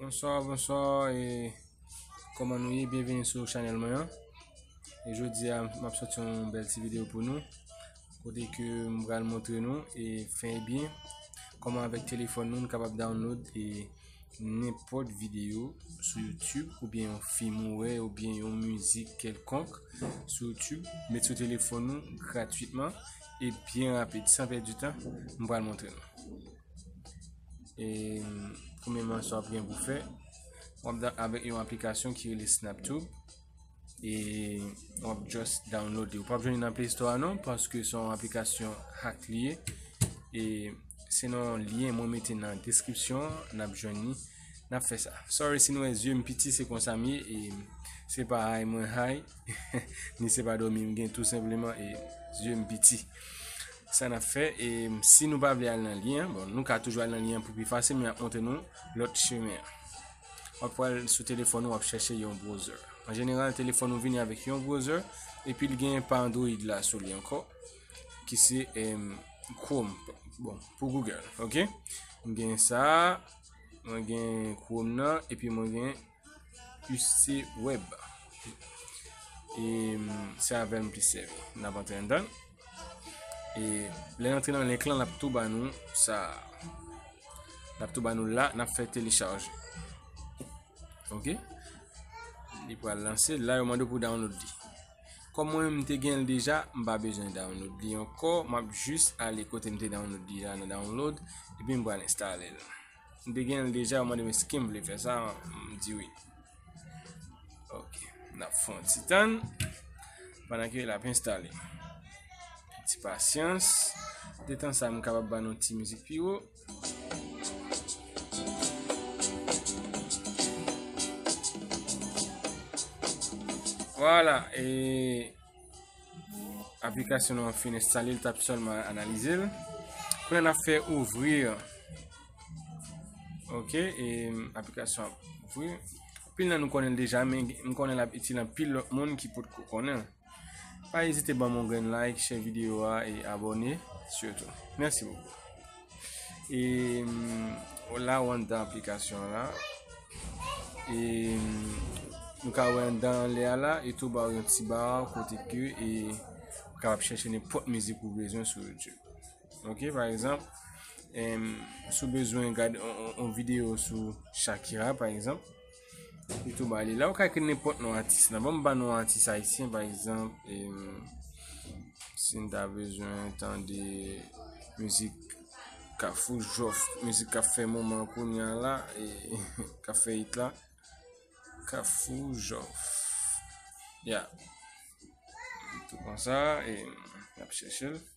Bonswa, bonswa, e koman nou ye, byenveni sou chanel mwen an E jodi a, m ap soti yon bel ti video pou nou Kote ke m pral montre nou, e fè e byen Koman avèk telefon nou, nou kapab download e nenpòt videyo sou youtube ou byen yon film ou wè ou byen yon mizik kelkonk sou youtube met sou telefon nou gratuitman e byen rapid san pèdi tan m pral montre nou e premèman sa w ap gen pou fè w ap dan avèk yon aplikasyon ki rele snaptube e wap just download li ou pap jwenn nan play store a non paske son aplikasyon hack li ye e se nan lien mwen mete nan description nap jwenn ni nap fè sa sorry si nou wè yeux m piti se konsa m ye e se pa hay mwen hay ni se pa domi m gen tout simplement e yeux m piti sa nap fè e si nou pa vle al nan lien bon nou ka toujou al nan lien pou pi fasil mwen ap montre nou lot chemin wap pral sou telefon ou wap chèche yon browser. An jeneral telefon ou vini avèk yon browser epi l genyen pa Android la sou li ankò ki se em, Chrome bon pou Google ok m gen sa mwen gen Chrome nan epi mwen gen UC Web e se avèl m plis sèvi n ap antre anndan E lè nan trenan link lan, nap tou ba nou sa. Nap tou ba nou la, nap fè telecharge. Ok. Li pou al lanse, la yo mando pou download di. Kom mwen mte gen l deja, mba bezwen download di. Yon kò, map jis ale kote mte download di la nan download. Epi mba al installe l. M te gen l deja ou mande m eske m vle fè sa m di wi. Ok, n ap fon ti tan pandan ke l ap enstale. Ti pasyans, de tan sa m kapab ban nou ti mizik pi wo. Wala e... Aplikasyon nou an fin enstale, l tap sèlman analize l. Kwen nan fè ouvri. Ok, e aplikasyon ap ouvri. Pil nan nou konnen l deja, men m konnen l ap itil an pil lòt moun ki pot ko konnen. Pa ezite ban m yon grenn like, share videyo a, e abone. Siyotou. Mèsi wou. E o la ou anndan aplikasyon an la. E nou ka wè anndan an lè a la. E tou ba ou yon ti bar kote ke e ou kapab chèche nenpòt mizik ou bezwen sou YouTube. Ok, pa egzanp, sou bezwen gade yon videyo sou Shakira pa egzanp. Li tou ba li. La ou ka ekri nenpòt non atis la. Bon m ba non atis ayisyen pa egzanp. Si n ta bezwen tande mizik ka fou jòf. Mizik ka fè moman kounya la. Ka fè it la. Ka fou jòf. Ya. Tou konsa. E ap chèche l.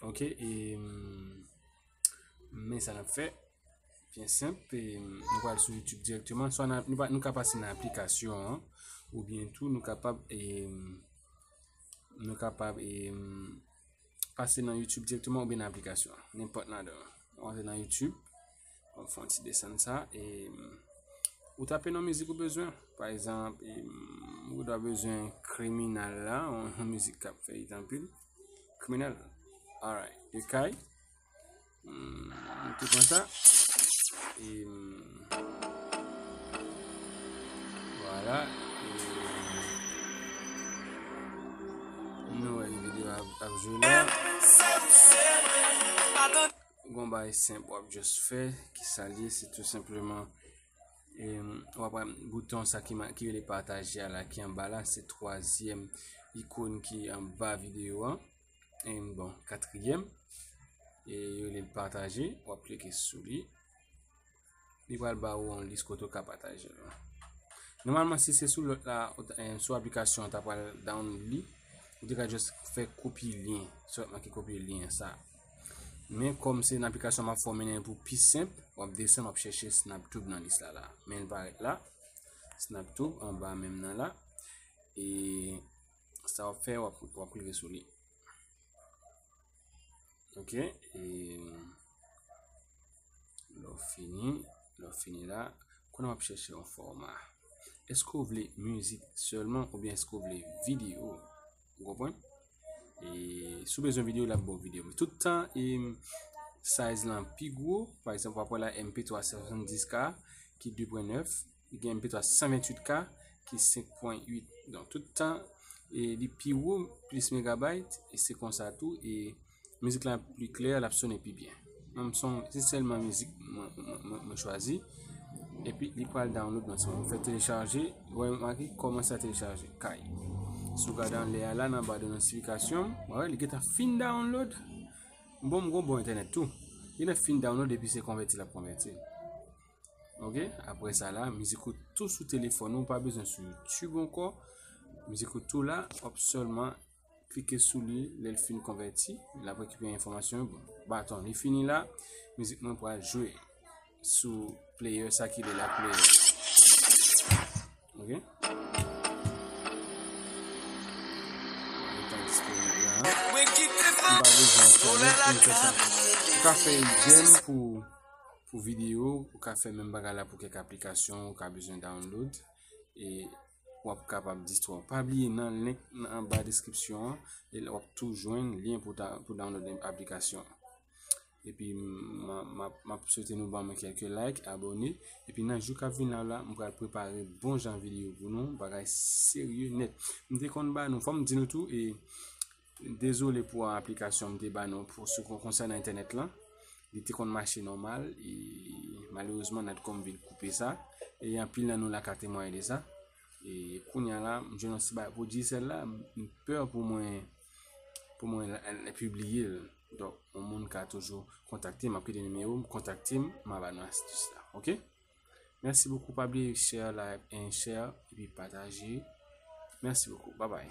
Ok, e men sa nap fè, byen senp, nou pral sou YouTube direktman, nou ka pase nan aplikasyon an, ou byen tou nou kapab e, nou kapab e, pase nan YouTube direktman ou byen nan aplikasyon an, nenpòt nan de yo, antre nan YouTube. Wap fè yon ti desann sa e ou tape nan mizik ou bezwen. Pa egzanp, ou ta bezwen kriminal la, yon mizik kap fè it anpil. Kriminal. Alright, e kay. Mwen te pran sa. E wala. Nou wè yon video ap jwe la. Gon bay senp wap just fè ki sa li se tou senpleman e wap wè bouton sa ki ki rele pataje a la ki anba la se twazyèm ikon ki anba videyo an e bon katriyèm e yo li pataje wap klike sou li li pral ba ou yon lis kote ou ka pataje l. Nòmalman si se sou lòt la, sou aplikasyon an ta pral download li, ou te ka just fè kopye lyen, sèlman ki kopye lyen sa. Men kòm se nan aplikasyon map fòmen nen pou pi senp, wap desen wap chèche SnapTube nan lis la la. Men l parèt la, SnapTube anba menm nan la. E sa wap fè wap klike sou li. Ok, e lò fini, lò fini la, kon ap chèche yon fòma. Eske ou vle mizik sèlman ou byen eske ou vle video? Ou konpwen? E sou bezwen video la pou video. Men tout tan e size lan pi gwo, pa ekzanp wap wè la MP3 70K ki 2.9. li gen pi ta 128 ka ki 5.8 don tout tan e li pi wou plis megabayt e se konsa tou e mizik la pi klè l ap sonnen pi byen mwen m son se selman mizik mwen chwazi epi li pral download nan son mwen fè telechaje wè m ake koman sa telechaje kay sou gade an lè a la nan ba de nosifikasyon wè li geta fin download bon m gon bon internet tou li nan fin download epi se konvèti l ap konvèti Ok, apre sa la, mizik ou tou sou telefon ou, pa bezwen sou YouTube anko. Mizik ou tou la, wap selman klike sou li, lèl fin konvèti, la pou ekipe informasyon, bon, baton, li fini la, mizik mwen pou a jwe sou player sa ki li la player. Ok? Mwen ki te pa, ou lè la ka, ou ka fè yon jen pou... Pou video ou ka fè menm bagay la pou kèk aplikasyon ou ka bezwen download e wap kapab distwè ou. Pa bliye nan link nan anba deskripsyon an, e la wap tou jwenn lyen pou download aplikasyon an. Epi map swete nou banm kèk like, abone, epi nan jou kap vin la la, m pral prepare bon jan video pou nou, bagay serye nèt. M te konn ba nou, fòm di nou tou e. Dezole pou aplikasyon m te ba nou pou sou kon konsè nan entènèt lan. Li te konn mache normal e malerezman Natcom vin koupe sa. E yon pil nan nou la ka temwaye de sa. E kounya la, m jwenn yon ti bagay pou di sel la, m pè pou mwen pou mwen la publiye l. Donk, yon moun ka toujou kontakte m, m ap kite nimewo m, kontakte m, m a ba nou astis la. Ok? Merci beaucoup pa bliye share like and share epi pataje. Merci beaucoup. Bye bye.